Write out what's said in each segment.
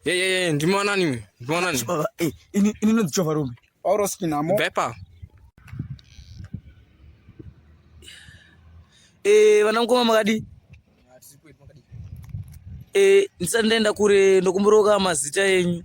Ye ye ye ndimo nani uyu? Ndimo nani? Baba, eh, ini ini ndinonzi Jova Rume. Pauro Skinamo. Bepa. Eh, vana mukoma makadi. Eh, ndisati ndaenda kure ndokumboroka mazita enyu.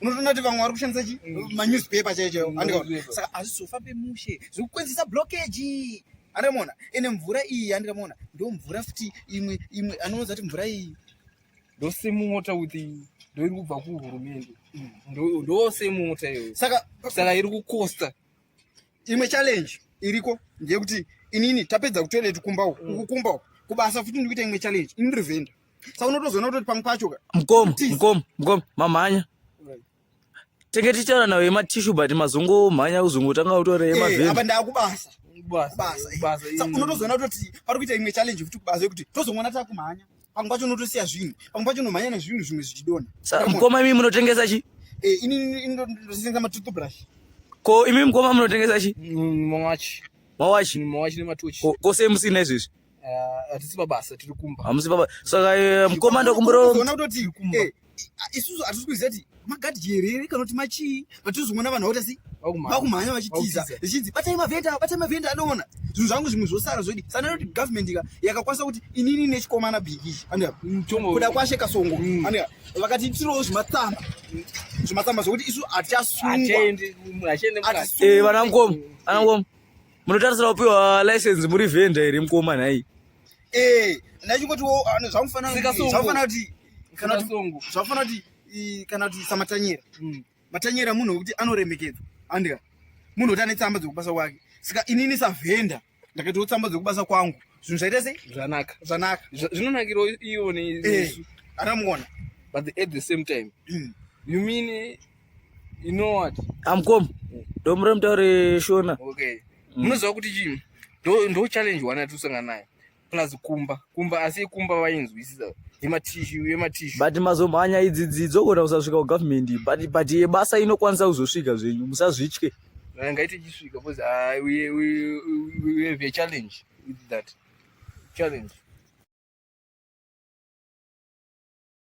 unotoona kuti vamwe vari kushandisa chi mm. manewspaper chaiyo chaiyo andikaona saka hazvizofa pemushe zviri kukwenzisa blockage andikamona ene mvura iyi andikamona ndo mvura futi imwe imwe anoonza kuti mvura iyi ndosemota with ndoiri kubva kuhurumende mm. ndosemota iyoyo saka saka iri kukosta imwe challenge iriko ndeyekuti inini tapedza kutoilet kumba uku mm. uku kumba uku kubasa futi ndikuita imwe challenge ini revenda sa unotozoona kutoti pamwe pacho ka mkomo mkomo mkomo mamhanya tenge tichitaura nawo yematishu but mazungu mhanya uzungu tanga utore yemavheni eh, apa ndakubasa unotozoona kutoti pari kuita imwe challenge futi kubasa yekuti tozongona takumhanya pamwe pacho unotosiya zvinhu pamwe pacho unomhanya nezvinhu zvimwe zvichidona mkoma imi munotengesa chi eh, ini ndotengesa matoothbrush ko imi mkoma munotengesa chi mm, mawachi mawachi mawachi nematochi ko semusina izvezvi Eh, hatisi pabasa tiri kumba hamusi ah, pabasa saka eh, mukoma ndokumbiraona kutoti eh, ah, isusu hatisi kuziva kuti magadi jerere kana kuti machii vatizongoona vanhu vakuti asi vakumhanya vachitiza zichinzi batai mavhenda batai mavhenda anoona zvinhu zvangu zvimwe zvosara zvodi sana kuti government ka yakakwanisa kuti inini nechikomana bhiki kuda kwashe kasongo mm. vakati itirowo zvimatsamba zvimatsamba zvokuti isu hatichasungwa vana mukoma ana mukoma munotarisira kupiwa license muri vendor here mukoma nhai eh ndachingoti zvamufanira zvamufanira kuti kana kuti zvamufanira kuti kana kuti samatanyera hmm. matanyera munhu wekuti anoremekedzwa andika munhu wekuti ane tsamba dzekubasa kwake saka inini savhenda ndakatiwo tsamba dzekubasa kwangu zvinhu zvaita sei zvanaka zvanaka zvinonakira iwo nearamugona eh, but at the same time mm. you mean You know what? I'm come. Don't mrem tare shona. Okay. Mm. Munoziva kuti chii? Ndo ndo challenge wana tusanga nayo. Plus kumba. Kumba asi kumba vainzwisisa. Yema tissue, yema tissue. But mazomhanya idzi dzidzo kona usasvika ku government. But but yebasa inokwanisa kuzosvika zvenyu. Musazvitye. Ngaite chisvika because I we we we have a challenge with that. Challenge.